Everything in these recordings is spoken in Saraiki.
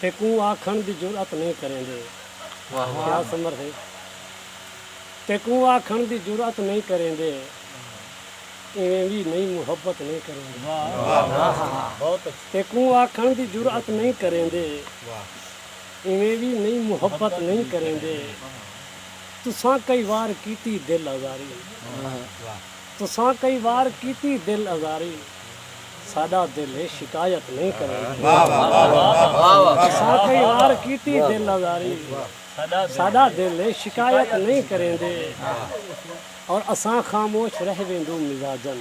تے کوں آکھݨ دی جرات نئیں کریندے۔ کیا سمر ہے۔ تے کوں آکھݨ دی جرات نئیں کریندے۔ ایویں وی نئیں محبت نئیں کریندے۔ تے کوں آکھݨ دی جرات نئیں کریندے۔ ایویں وی نئیں محبت نئیں کریندے تساں کئی وار کیتی دل آزاری تساں کئی وار کیتی دل آزاری ساڈا دل ہے شکایت نئیں کریندے تساں کئی وار کیتی دل آزاری ساڈا دل ہے شکایت نئیں کریندے اور اساں خاموش رہ ویندوں مزاجن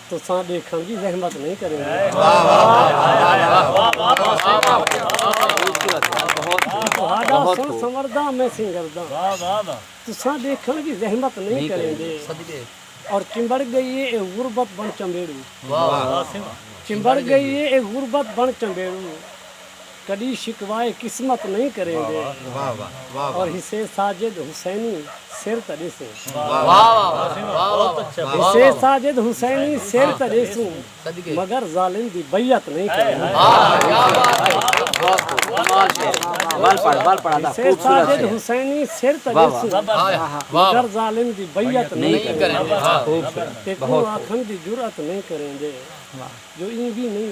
تساں ڈیکھن دی زحمت نہیں کریندے اور چمبڑ گئی اے غربت بن چمبیڑو چمبڑ گئی اے غربت بن چمبیڑو کڈی شکوائے قسمت نئیں کریندے اور حسے ساجد حسینی سر تاں ڈیسوں حسے ساجد حسینی سر تاں ڈیسوں مگر ظالم دی بیعت نئیں کریندےحسے ساجد حسینی سر تاں ڈیسوں مگر ظالم دی بیعت نئیں کریندےتیکوں آکھن دی جرات نئیں کریندے جو ایں وی نئیں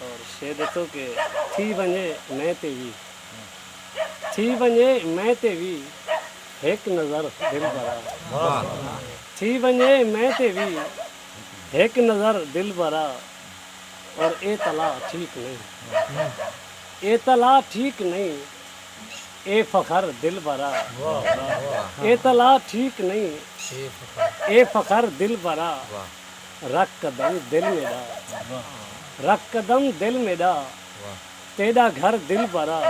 اور شے ڈتو کہ تھی ونجے میں تے وی تھی ونجے میں تے وی ہک نظر دلبرا تھی ونجے میں تے وی ہک نظر دلبرا اور اے تلا ٹھیک نہیں اے تلا ٹھیک نہیں اے فخر دلبرا اے تلا ٹھیک نہیں اے فخر دلبرا رکھ قدم دل میݙا رکھ قدم دل میݙا تیݙا گھر دلبرا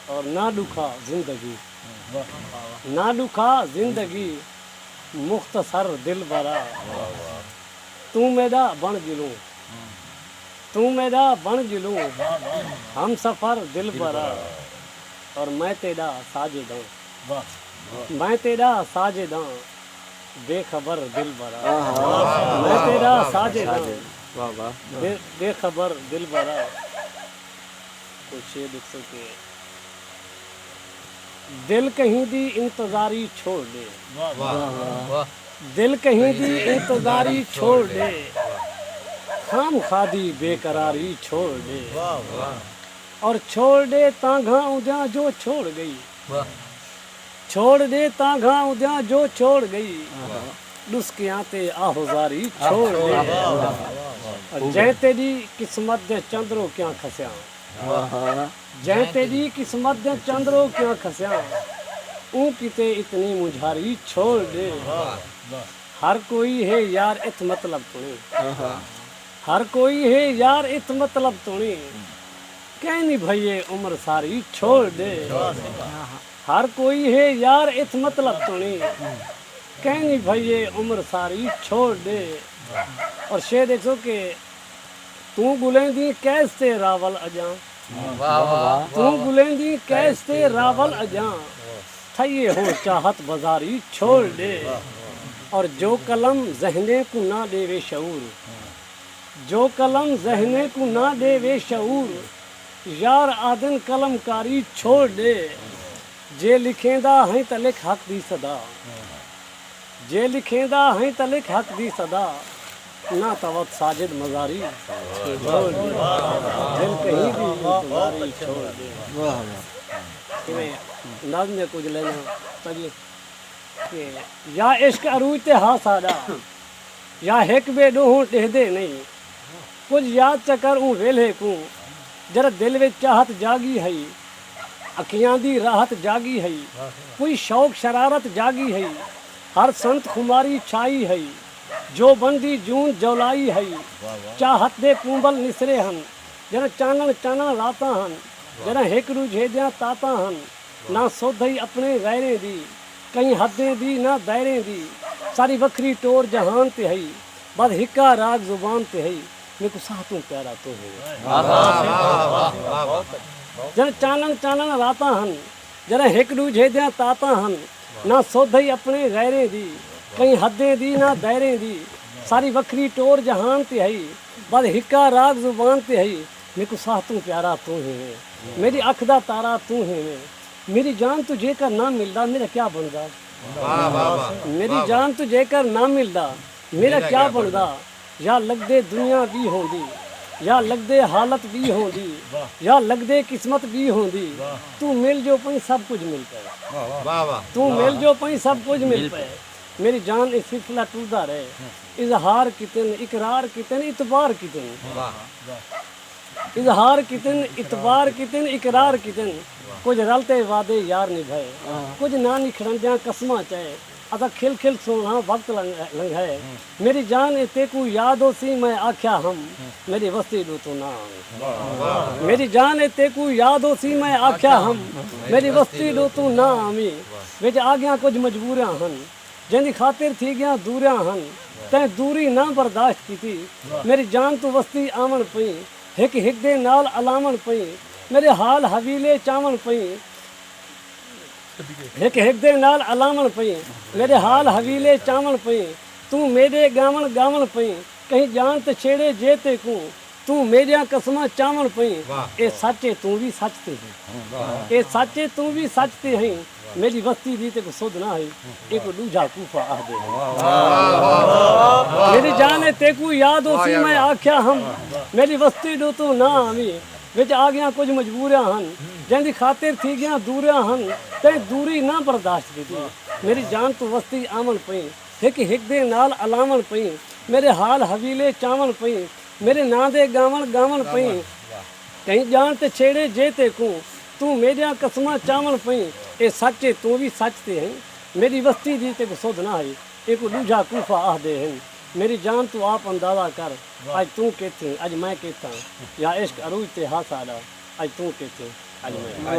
اور نہ ݙکھا زندگی نہ ݙکھا زندگی مختصر دلبرا توں میݙا بݨ ڄلوں توں میݙا بݨ ڄلوں ہمسفر دلبرا اور میں تیݙا ساجد آں میں تیݙا ساجد آں۔ بے خبر دلبرا میں تیرا ساجد ہاں بے خبر دلبرا کوئی شعر لکھ سکے دل کہیں دی انتظاری چھوڑ دے دل کہیں دی انتظاری چھوڑ دے خام خادی بے قراری چھوڑ دے اور چھوڑ دے تانگھاں اندیاں جو چھوڑ گئی چھوڑ ݙے تاں گھاں اودیاں جو چھوڑ ڳئی ݙسکیاں تے آہو زاری چھوڑ ݙے جئیں تیݙی قسمت دے چند روکیاں کھسیاں جئیں تیݙی قسمت دے چند روکیاں کھسیاں اوں کیتے اتنی مونجھاری چھوڑ ݙے ہر کوئی ہے یار اتھ مطلب توݨیں ہر کوئی ہے یار اتھ مطلب توݨیں۔ کینی بھئیے عمر ساری چھوڑ ڈے ہر کوئی ہے یار اتھ مطلب تونی کینی بھئیے عمر ساری چھوڑ ڈے اور شعر ڈیکھسو کہ توں گلیں دی کیس تے راول اجاں توں گلیں دی کیس تے راول اجاں تھئیے ہو چاہت بزاری چھوڑ ڈے اور جو قلم ذہنیں کوں نہ ڈیوے شعور جو قلم ذہنیں کوں نہ ݙیوے شعور یار آہدن قلم کاری چھوڑ ݙے جے لکھیندا ہیں تاں لکھ حق دی صدا جے لکھیندا ہیں تاں لکھ حق دی صدا نہ تاں وت ساجد مزاری چھوڑ ݙے دل کہیں دی انتظاری چھوڑ ݙے ایویں نظم دے کجھ لائناں پڑھیے کہ یا عشق عروج تے ہا ساݙا یا ہک ٻئے ݙوہوں ݙیہدے نئیں کجھ یاد چا کر اوں ویلھے کوں جݙاں دل وچ چاہت جاڳی ہئی اکھیاں دی راحت جاڳی ہئی کوئی شوق شرارت جاڳی ہئی ہر سنت خماری چھائی ہئی جوبن دی جون جولائی ہئی چاہت دے پونبل نسرے ہن جݙاں چانݨ چانݨ راتاں ہن جݙاں ہک ݙوجھے دیاں تاتاں ہن نہ سودھ ہئی اپݨیں غیریں دی۔ کہیں حدیں دی نہ دائریں دی ساری وکھری ٹور جہان تے ہئی بس ہکا راگ زبان تے ہئی میکوں ساہ توں پیارا توں ہی جݨ چانݨ چانݨ راتاں ہن جݙاں ہک ݙوجھے دیاں تاتاں ہن نہ سدھ ہئی اپݨے غیریں دی کہیں حدیں دی نہ دائریں دی ساری وکھری ٹور جہان تے ہئی بس ہکا راگ زبان تے ہئی میکوں ساہ توں پیارا توں ہی ویں میݙی اکھ دا تارا توں ہی ویں۔ میݙی جان توں جیکر نہ ملدا میݙا کیا بݨدا میݙی جان توں جیکر نہ ملدا میݙا کیا بݨدا یا لڳدے دنیا ٻی ہوندی یا لڳدے حالت ٻی ہوندی یا لڳدے قسمت ٻی ہوندی توں مل جو پئیں سب کجھ مل پئے توں مل جو پئیں سب کجھ مل پئے میݙی جان اے سلسلہ ٹردا رہے اظہار کیتن اقرار کیتن اعتبار کیتن۔ اظہار کیتن اعتبار کیتن اقرار کیتن کجھ رل تے وعدے یار نبھائے کجھ ناں نکھڑندیاں قسماں چائے اساں کھل کھل سوہنڑاں وقت لنگھائے میری جان اے تیکوں یاد ہوسی میں آکھیا ہم میڈی وستی ڈو توں نہ آویں میری جان اے تیکوں یاد ہوسی میں آکھیا ہم میڈی وستی ڈو توں نہ آویں وچ آگیاں کجھ مجبوریاں ہن جیندی خاطر تھی ڳیاں دوریاں ہن تیں دوری نہ برداشت کیتی میݙی جان توں وسدی آوݨ پئیں ہک ہک دے نال الاوݨ پئیں میݙے حال حویلے چاوݨ پئیں ہک ہک دے نال الاوݨ پئیں میݙے حال حویلے چاوݨ پئیں توں میݙے ڳاوݨ ڳاوݨ پئیں کہیں ڄاݨ تے چھیڑے جے تیکوں توں میݙیاں قسماں چاوݨ پئیں اے سچ اے توں وی سچ تے ہیں اے سچ اے توں وی سچ تے ہیں میݙی وستی دی تیکوں سدھ نہ ہئی ایکوں ݙوجھا کوفہ آہدے ہن میݙی جان اے تیکوں یاد ہوسی میں آکھیا ہم میݙی وستی ݙو توں نہ آویں وچ آڳیاں کجھ مجبوریاں ہن جیندی خاطر تھی ڳیاں دوریاں ہن تیں دوری نہ برداشت کیتی میݙی جان توں وستی آوݨ پئیں ہک ہک دے نال الاوݨ پئیں میݙے حال حویلے چاوݨ پئیں میݙے ناں دے ڳاوݨ ڳاوݨ پئیں کہیں ڄاݨ تے چھیڑیں جے تیکوں توں میݙیاں قسماں چاوݨ پئیں اے سچ اے توں وی سچ تے ہئیں میݙی وستی دی تیکوں سدھ نہ ہئی اینکوں ݙوجھا کوفہ آہدے ہن میݙی جان توں آپ اندازہ کر اڄ توں کیتھیں اڄ میں کیتھاں یا عشق عروج تے ہا ساݙا اڄ توں کیتھیں اڄ میں